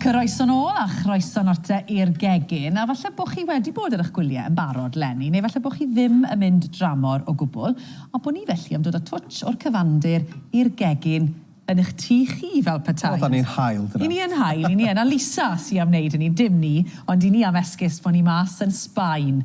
Croeso nôl a chroeso note i'r gegin a falle bo chi wedi bod ar eich gwylie yn barod 'leni neu falle bo chi ddim yn mynd dramor o gwbwl a bo ni felly am dod a twtsh o'r cyfandir i'r gegin yn eich tŷ chi fel petai. O 'da ni'n hael dyna. I ni yn hael, i ni yn a Lisa sy am neud hynny, dim ni, ond i ni am esgus bo ni mas yn Sbaen.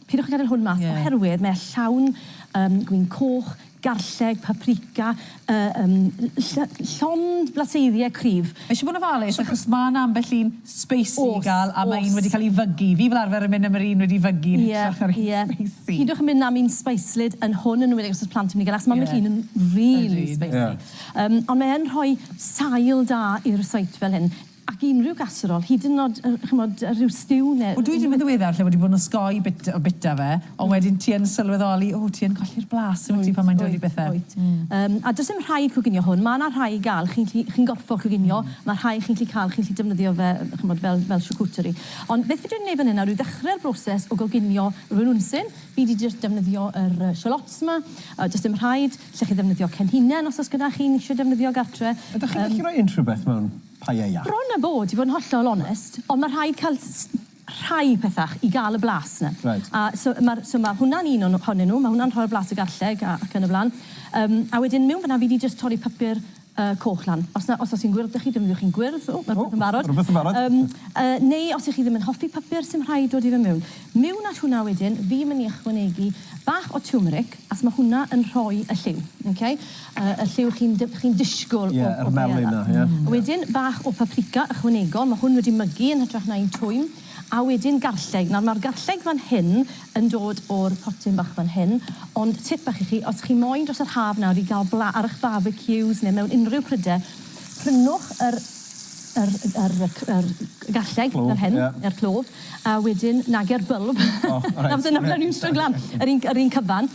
Peidiwch â gadael hwn mas oherwydd mae e llawn yym gwin coch, garlleg, paprika, yy yym ll- llond blaseiddiau cryf. Mae eisiau bod yn ofalus achos mae 'na ambell un spicy i gael a mae un wedi cael ei fygu. Fi fel arfer yn mynd am yr un wedi fygu yn hytrach na'r un spicy. Peidiwch â mynd am un speislyd yn hwn yn enwedig os oes plant yn mynd i gael e achos mae ambell un yn rili spicy. Yym ond mae yn rhoi sail da i'r receipts fel hyn. Ac i unrhyw gaserol, hyd yn o'd, yy, ch'mod, yy, rhyw stiw ne'... O, dwi 'di mynd yn ddiweddar lle wedi bod yn osgoi bit- yy, bita fe, ond wedyn ti yn sylweddoli, o, ti yn colli'r blas, wyt ti, pan mae'n dod i bethe. Wyt, wyt. Mm. Yym, a does dim rhaid coginio hwn. Ma' 'na rhai i ga'l, chi'n gallu, chi'n gorffod coginio. Mm. Ma' rhai chi'n gallu ca'l, chi'n gallu defnyddio fe, yy, ch'mod, fel fel charcuterie. Ond beth fi dwi myn' i neud fan 'yn nawr yw ddechre'r broses o goginio rhywun unsin. Fi 'di jyst defnyddio yr, yy, shallots 'ma. Yy, does dim rhaid. Lle chi ddefnyddio cen hunen os oes gyda chi un isio defnyddio gartre. Ydych chi'n gallu rhoi unrhyw beth mewn paella? Bron a bod, i fod yn hollol onest, ond mae rhaid cael rhai pethau i gael y blas 'na. Reit. A so ma'r so ma' hwnna'n un o'n ohonyn nhw, ma' hwnna'n rhoi'r blas y garlleg a ac yn y blaen. Yym a wedyn miwn fan'na fi 'di jyst torri papur y coch lan. Os na, os os chi'n gwyrdd da chi defnyddiwch chi'n gwyrdd. O, ma' rwbeth yn barod. O, ma' rwbeth yn barod. Yym yy neu os 'ych chi ddim yn hoffi pypyr sy'm rhaid dod i fe miwn. Miwn at hwnna wedyn fi myn' i ychwanegu bach o tiwmeric as ma' hwnna yn rhoi y lliw. Oce? Y y lliw chi'n dy- chi'n disgwl o o paella. Ie yr melyn 'na ie. Wedyn bach o paprika ychwanegol ma' hwn wedi mygu yn hytrach na un twym. A wedyn garlleg. Nawr ma'r garlleg fan hyn yn dod o'r potyn bach fan hyn, ond tip bach i chi, os chi moyn dros yr haf nawr i ga'l bla ar ych barbecues ne' mewn unrhyw pryde, prynwch yr yr yr y c- yr garlleg... Clwb, ie. ...fel hyn, yr clwb, a wedyn nage'r bylb. O reit. Nawr dyna fel ni'n stryglan. Ie ie. Yr un yr un cyfan.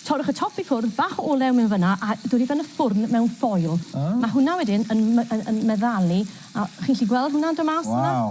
Torrwch y top i ffwrdd, bach o olew mewn fyn 'na, a dod i ben y ffwrn mewn ffoil. O. Ma' hwnna wedyn yn my- yn yn meddalu, a chi'n 'llu gweld hwnna'n do' mas yna? Waw.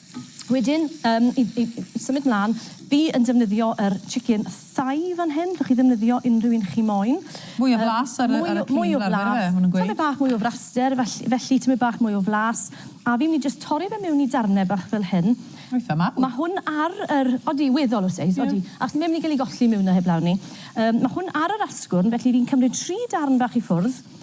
Wedyn, um, i, i, i symud mlaen, fi yn defnyddio yr er chicken thigh fan hyn. Rwy'ch chi ddefnyddio unrhyw un chi moyn. Mwy o flas ar, mwy, ar y crin fel arfer, maen nhw'n gweud. Tymed bach mwy o fraster, felly, felly tymed bach mwy o flas. A fi'n mynd i just torri fe mewn i darnau bach fel hyn. Eitha mawr. Mae hwn ar yr... Odi, weddol o seis, odi. Yeah. Ac mae'n mynd i gael ei golli mewn na heblaw ni. Um, mae hwn ar yr asgwrn, felly fi'n cymryd tri darn bach i ffwrdd.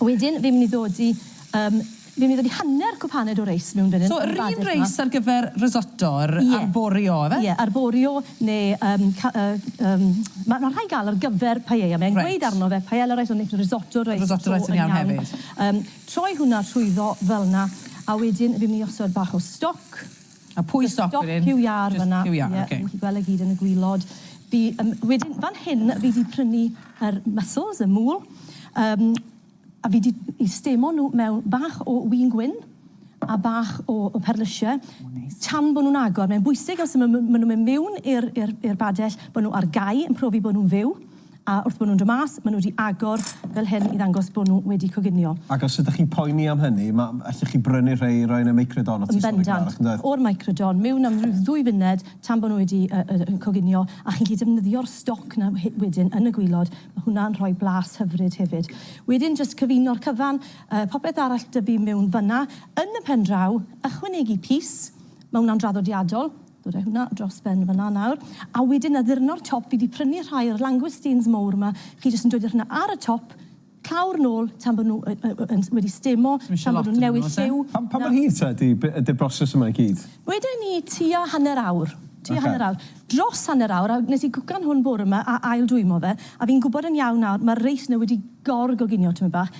Wedyn fi'n mynd i ddod i yym fi'n mynd i ddod i hanner cwpaned o reis mewn fan hyn. So yr un reis ar gyfer risotto yr arborio yfe? Ie arborio ne yym ca- yy yym ma' ma' rhai ga'l ar gyfer paella mae'n gweud arno fe paella rice ond neith risotto rice Risotto rice yn iawn hefyd. Yym troi hwnna trwyddo felna a wedyn fi'n mynd i osod bach o stoc. A pwy sy'n stopio hyn? Jyst stopio iâr fan'na. Jyst stopio iâr, ok. Ie, chi'n gweld e gyd yn y gwilod. Fi, yym, wedyn fan hyn fi 'di prynu yr mussels, y mŵl, yym, a fi 'di 'u stemon nhw mewn bach o win gwyn a bach o o perlysie. O neis. Tan bo' nhw'n agor. Mae'n bwysig os ma' ma' ma' nhw'n mynd miwn i'r i'r i'r badell, bo' nhw ar gau yn profi bo' nhw'n fyw. A wrth bod nhw'n dod mas, maen nhw wedi agor fel hyn i ddangos bod nhw wedi coginio. Ac os ydych chi'n poeni am hynny, ma', allwch chi brynu rhei i roi yn y Microdon o tu ôl i'r gardd, yndoedd? O'r Microdon, mewn am ryw ddwy funed tan bod nhw wedi coginio, a chi'n gallu defnyddio'r stoc 'na wedyn yn y gwilod, ma' hwnna'n rhoi blas hyfryd hefyd. Wedyn jyst cyfuno'r cyfan, popeth arall dyfu mewn fan'na. Yn y pen draw, ychwanegu pys, ma' hwnna'n draddodiadol, Rhoi hwnna dros ben fan'na nawr. A wedyn addurno'r top, fi 'di prynu rhai o'r langoustines mowr 'ma, chi jyst yn dwli hwnna ar y top, clawr nôl tan bod nhw yn wedi stemo, tan bod nhw'n newid lliw. Pam mor hir ta ydi ydi'r broses yma i gyd? Wedwn ni tua hanner awr, tua hanner awr. Dros hanner awr, a wnes i gwcan hwn bore 'ma a ail dwymo fe, a fi'n gwbod yn iawn nawr, ma'r reis 'na wedi gor-goginio tipyn bach.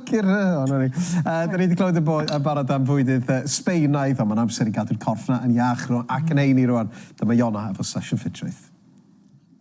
Ffycin hel o 'na ni. Yy 'dan ni 'di clywed yn bo- yn barod am fwydydd yy Sbaenaidd on' ma'n amser i gadw'r corff 'na yn iach rw- ac yn heini rŵan. Dyma Iona efo Sesiwn Ffitrwydd.